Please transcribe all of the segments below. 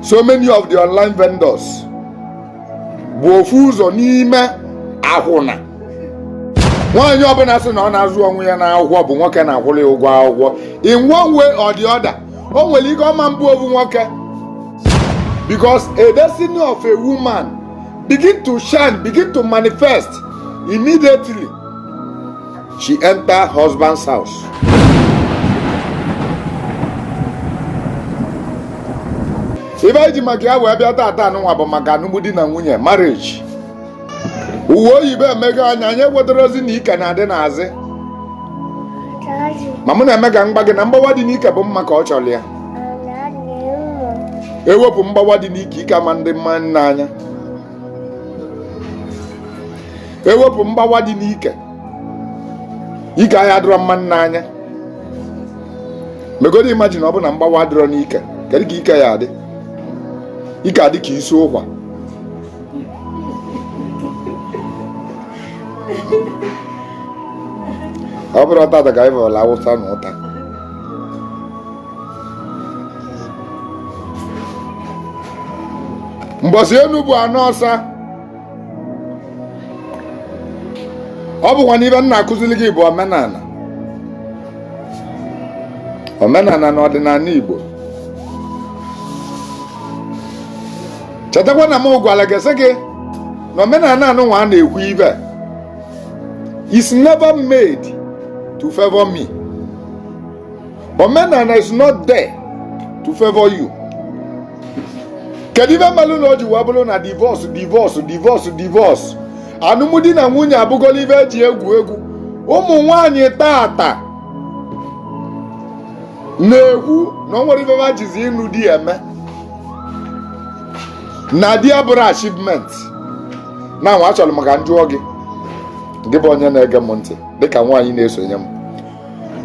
so many of the online vendors bụ ofu ụzọ n'ime akwụna nwaanyị ọbụla sị na ọ na-azụ onwe ya n'akwụkwọ bụ nwoke na-akwụrụ ya ụgwọ akwụkwọ in one way or the other o nwere ike ọ ma-abụ ofu nwoke because a destiny of a woman begin to shine begin to manifest immediately She enter husband's house. ive anyị ji maka ya wee bịa tata anụnwa bụ maka anụmdi na nwunye marriage uwe oyibo emego anya anyị ewetara ozi na ike na-adị n'azị ma mụ na-eme ka m gwa gị na mgbawa dị n'ike bụ mma ka ọ chọrọ ya ewepụ mgbawa dị n'ike ike ama-adị mma n'anya ewepụ mgbawa dị n'ike ike anyị adịrọ mma n'anya megodi imagine ọ bụ na mgbawa adịrọ n'ike kedu ka ike ya-adị ike adị ka isi ụkwa ọ bụrọ tata ka anyị vụlụ Awụsa na ụta mbọsị enu bụ ana ọsa ọ bụkwa n'ive m na-akụziri gị bụ omenala omenala na ọdịnala Igbo chetakwa na m gwara gị sị gị na omenala anụnwa a na-ekwu ive is never made to favor me. omenala is not there to favor you kedu ive melụ na o ji wee bụrụ na divorce divorce divorce divorce alụmdi na nwunye abụgola ive e ji egwu egwu ụmụ nwanyị tata na-ekwu na o nwerọ ive ha jizi ịnụ di eme na di abụrọ achievement na nwa achọrọ m ka m jụọ gị gị bụ onye na-ege m ntị dịka nwaanyị na-esonye m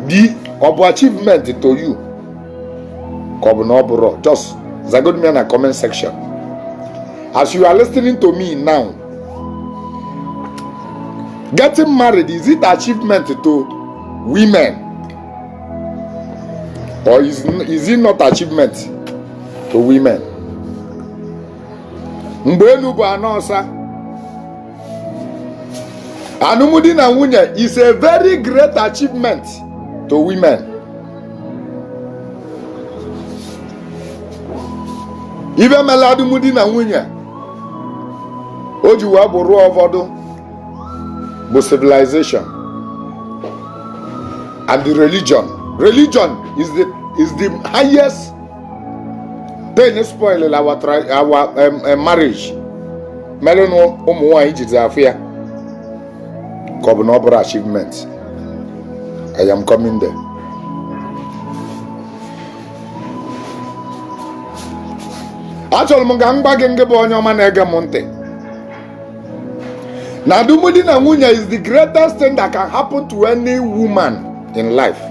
di ọ bụ achievement to you ka ọ bụ na ọ bụrọ just zagodo m ya na comment section as you are listening to me now getting married is it achievement to women or is, is it not achievement to women mgbe enu bụ ana ọsa alụmdi na nwunye is a very great achievement to women ive mela alụmdi na nwunye o ji wee bụrụ ụfọdụ bụ civilization and the religion religion is the is the highest pain spoil our our um, um, marriage merenụ ụmụ nwaanyị jizi afụ ya ka ọ bụ na ọ bụrọ achievement I am coming there. achọrọ m ka m gwa gị ngị bụ onye ọma na-ege m ntị na alụmdi na nwunye is the greatest thing that can happen to any woman in life.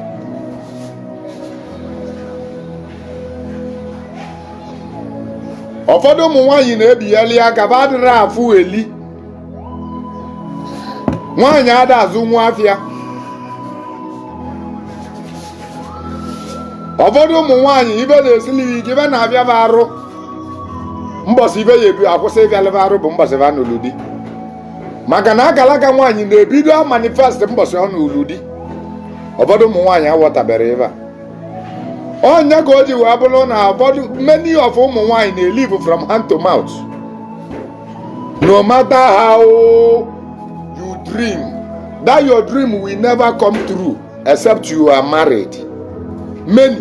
ụfọdụ ụmụ nwaanyị na-ebigharị aka fa adịrọ afụ eli nwaanyị ada azụnwu afịa ụfọdụ ụmụ nwaanyị ife na-esili ya ike ife na-afịa fa arụ mbọsị ife ya ebi akwụsị ịfịalị fa arụ bụ mbọsị fa nụlụ di maka na akalaka nwaanyị na-ebido amanifest mbọsị ọ nụlụ di ụfọdụ ụmụ nwaanyị aghọtaberọ ife a ọ nya ka o ji wee bụrụ na ụfọdụ many of ụmụ nwaanyị na-elive from hand to mouth no matter how you dream that your dream will never come true except you are married many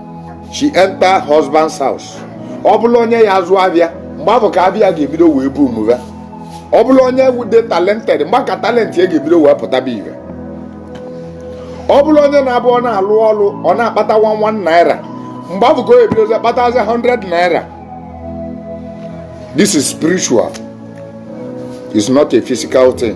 she enter husband's house ọ bụlụ onye ya azụ afịa mgbe afụ ka afịa ga-ebido wee mụba ọ bụlụ onye dị talented mgbe a ka talent ya ga-ebido wee pụtabe ife ọ bụlụ onye na-abụ ọ na-alụ ọlụ ọ na-akpata 1 1 naira mgbe afụ ka o ebidozi akpatazi 100 naira this is spiritual it's not a physical thing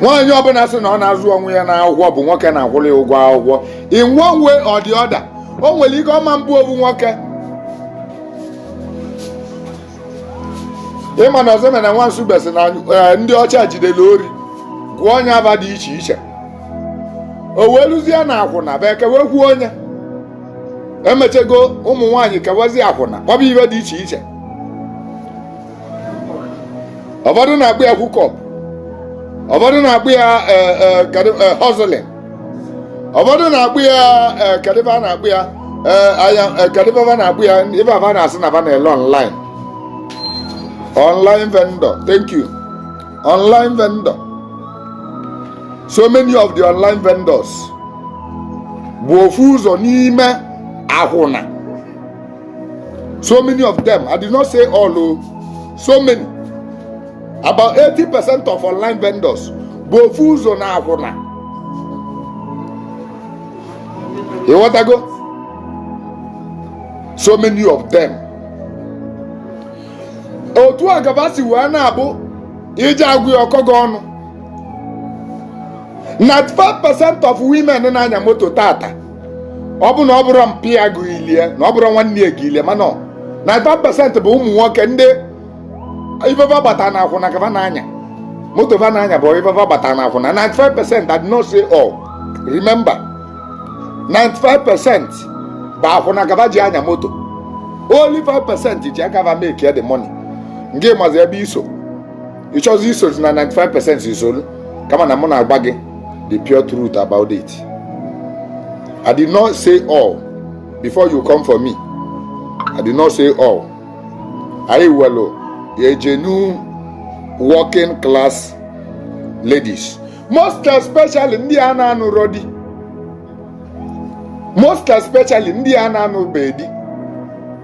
nwaanyị ọbụla sị na ọ na-azụ onwe ya n'akwụkwọ bụ nwoke na-akwụrụ ya ụgwọ akwụkwọ in one way or the other o nwere ike ọ ma abụ ofu nwoke ị ma na ọzọ na nwansu besị na eh, ndị ọcha jidere ori gụọ nya afa dị iche iche o wee luzie na akwụna bụ ekewe kwuo onye emechego ụmụ nwaanyị kewazi akwụna ọ bụ ife dị iche iche ụfọdụ na-akpọ ya hookup ụfọdụ na-akpọ ya hustling ụfọdụ na-akpọ ya kedu ife a na-akpọ ya kedu ife a fa na-akpọ ya ife a fa na-asị na fa na-ele online online vendor thank you online vendor so many of the online vendors bụ ofu ụzọ n'ime akwụna so many of them i did not say all o oh. so many about 80 percent of online vendors bụ ofu ụzọ na akwụna ị ghọtago so many of them otu a ka fa si wee na-abụ iji agwụ ya ọkọ gị ọnụ na 5 percent of women na-anya moto tata ọ bụ na ọ bụrụ mpa ya gị ilie na ọ bụrụ nwanne ya gị ilie mana 95% bụ ụmụ nwoke ndị ife fa gbata na akwụna ka fa na-anya moto fa na-anya bụ ife fa gbata na akwụna 95% I did not say all remember 95% bụ akwụna ka fa ji anya moto only 5% ji aka fa make the money ngị mazi ebe i so ị chọzi isozi na 95 percent i solu kama na mụ na-agwa gị the pure truth about it i did not say all before you come for me i did not say all anyị welu ejenu working class ladies most especially ndị a na-anụrọ di most especially ndị a na-anụbeghị di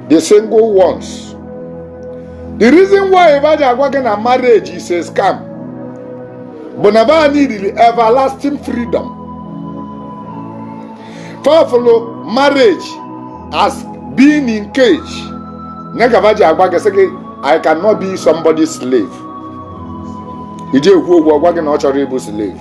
the single ones the reason why fa ji agwa gị na marriage is a scam bụ na ba needịrị everlasting freedom fa fụlụ marriage as being in cage ya ka ba ji agwa gị sị gị i cannot be somebody's slave iji ekwu okwu ọ gwa gị na ọ chọrọ ịbụ slave